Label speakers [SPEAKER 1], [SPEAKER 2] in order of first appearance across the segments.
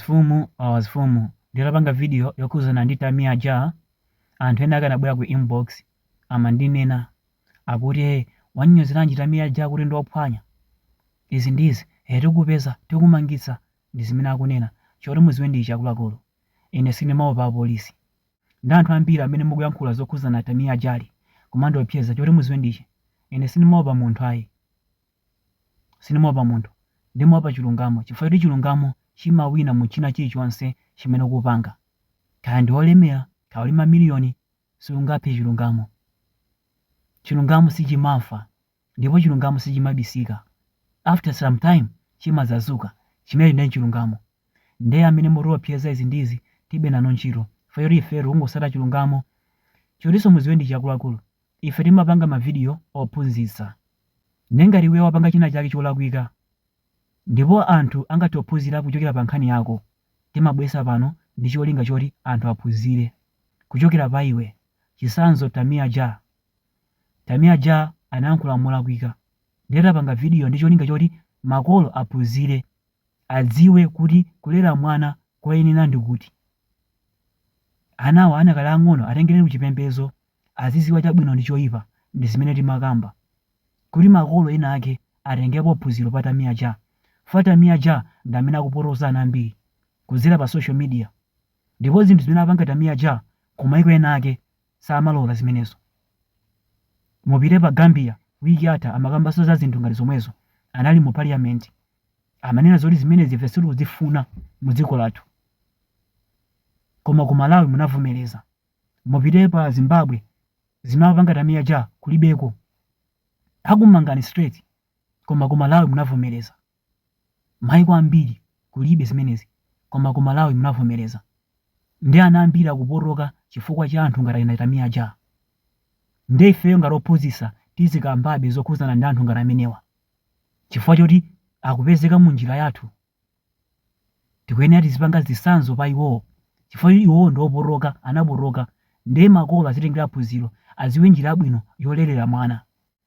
[SPEAKER 1] Azifumu awazifumu nditapanga video yokhuzana ndi Tamia Ja anthu ena akanabwera ku inbox amandinena akuti hey wanyonyozeranji Tamia Ja kuti ndiophwanya izi ndiizi hey tikupeza tikumangitsa ndizimene akunena choti muziwe ndi ichi akuluakulu ine sindimaopa apolisi ndi anthu ambiri amene mukuyankhula zokhuzana Tamia Ja kumandiopseza choti muziwe ndi ichi ine sindimaopa munthu ayi Sindimaopa munthu. Ndimaopa chilungamo chifukwa choti chilungamo chimawina mu china chilichonse chimene ukupanga. Kaya ndiwe olemera, kaya uli mamiliyoni, siungaphe chilungamo. Chilungamo sichimafa ndipo chilungamo sichimabisika. After some time chimadzazuka. Chimenecho ndiye nchilungamo. Ndiye amene mutiopseza izi ndi izi tibe nanu ntchito chifukwa choti ifeyo tikungosata chilungamo. Chotinso mudziwe ndi ichi akuluakulu, Ife timapanga mavidiyo ophunzitsa. Ndiye ngati iweyo wapanga chinachake cholakwika ndipo anthu angathe kuphunzira kuchokera pa nkhani yako, timabweretsa pano ndi cholinga choti anthu aphunzire kuchokera pa iwe. Chitsanzo Tamia Ja. Tamia Ja anayankhula molakwika. Ndiye tapanga vidiyo ndi cholinga choti makolo aphunzire, adziwe kuti kulera mwana koyenera ndi kuti. Anawa anakali aang'ono, atengereni kuchipembedzo azidziwa chabwino ndi choipa ndi zimene timakamba. Kuti makolo ena ake atengepo phunziro pa Tamia Ja, chifukwa Tamia Ja ndi amene akupotoza ana ambiri kudzera pa social media ndipo zinthu zimene amapanga Tamia Ja ku maiko ena ake samalola zimenezo. Mupite pa Gambia week yatha amakambanso za zinthu ngati zomwezo, anali mu parliament amanena zoti zimenezi ife sitikuzifuna mu dziko lathu koma ku Malawi munavomereza. Mupite pa Zimbabwe zimene amapanga Tamia Ja kulibeko. Akumangani straight koma ku Malawi munavomereza. Maiko ambiri kulibe zimenezi koma ku Malawi munavomereza. Nde ana ambiri akupotoka chifukwa cha anthu ngati achina Tamia Ja. Nde ifeyo ngati ophunzitsa tizikambabe zokhuzana ndi anthu ngati amenewa chifukwa choti akupezeka mu njira yathu. Tikuyenera tizipanga zitsanzo pa iwowo chifukwa choti iwowo ndi opotoka, anapotoka nde makolo azitengera phunziro aziwe njira yabwino yolerera mwana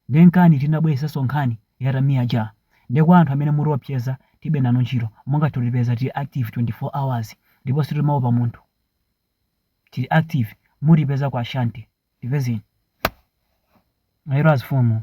[SPEAKER 1] nde nkani tinabweresanso nkhani ya Tamia Ja nde kwa anthu amene mutiopseza tibe nanu ntchito mungathe kutipeza tiri active 24 hours ndipo sitimaopa munthu tiri active mutipeza kwa Ashanti tipezeni mayero azifumu